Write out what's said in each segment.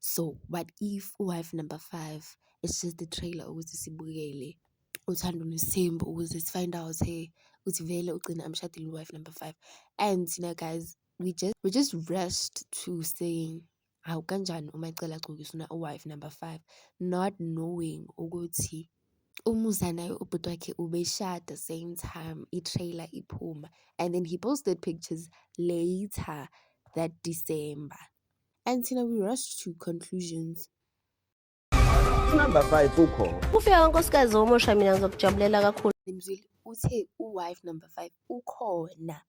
So what if u-wife number five is just a trailer ukuthi sibukele uthando lwesimba ukuze si-find out hey ukuthi vele ugcina amshadile u-wife number five and thina guys we just we just rushed to saying hawu kanjani uma ecela agcoke usuna u-wife number five not knowing ukuthi umusa naye ubhuti wakhe ubeshada same time i-trailer iphuma and then he posted pictures later that December. until we rush to conclusions. Number 5 ukho. Ufika kankosikazi omusha mina ngizokujabulela kakhulu. Mzwile uthe uwife number 5 ukhona.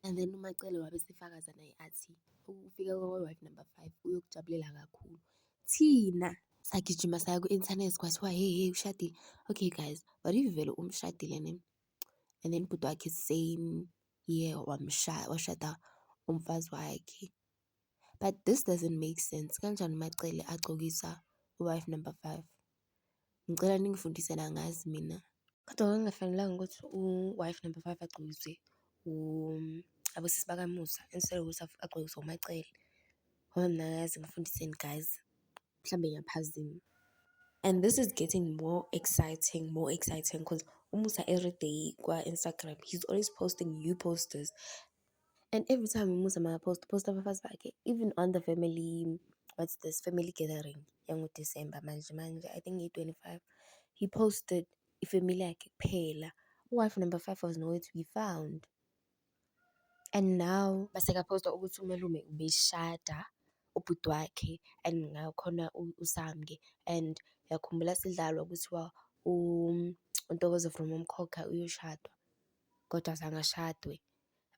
And then uMacele wabe sefakaza naye athi ukufika kwawife number 5 uyokujabulela kakhulu. Thina sagijima saya ku-internet kwathiwa hey hey ushadile. Okay guys, what if vele umshadile ne? And then bhuti wakhe same year wamshaya washada umfazi wakhe. but this doesn't make sense kanjani uMaCele agcokisa u-wife number five? Ngicela ningifundise la angazi mina. Kodwa kwakungafanelanga ukuthi u-wife number five agcokiswe abosisi bakaMusa instead yokuthi agcokiswe uMaCele ngoba mina angazi ngifundiseni guys mhlawumbe ngiyaphazima. And this is getting more exciting more exciting cause uMusa everyday kwa-Instagram he's always posting new posters And every time umusa makapost uposta abafazi bakhe even on the family what's this family gathering yangoDisemba manje manje I think ngiyi-twenty five he posted ifamily yakhe kuphela uwife number five was nowhere to be found and now masekaposta ukuthi umalume ubeshada ubhuti wakhe and ngakhona usamke and yakhumbula sidlalwa kuthiwa uNtokozo from uMkhokha uyoshadwa kodwa zange ashadwe.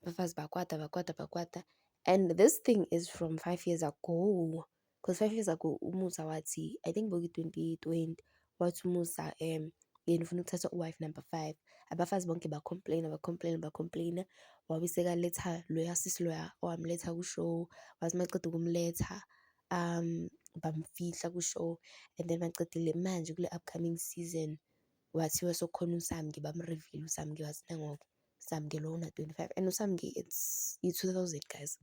abafazi bakwata bakwata bakwata and this thing is from five years ago because five years ago umusa wathi i think bokuyi-twenty twenty wathi umusa um yena ufuna ukuthatha uwife number five abafazi bonke bacomplaina bacomplaina bacomplaina wabe sekaletha loya sisi loya owamletha kushow wathi maqeda ukumletha um bamfihla kushow and then baqedile manje kule upcoming season wathiwa sokhona usamke bamreveal usamke wathi nangoke Samke lona 25 and uSamke it's i-2000 guys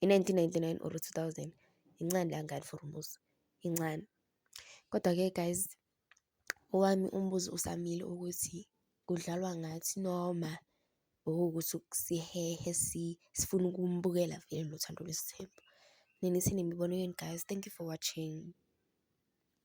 i-1999 or 2000 incane langani for umuzi incane kodwa-ke guys owami umbuzo usamile ukuthi kudlalwa ngathi noma okuwukuthi sihehe sifuna ukumbukela vele lo thando lwesithembu nina isini imibono yenu guys thank you for watching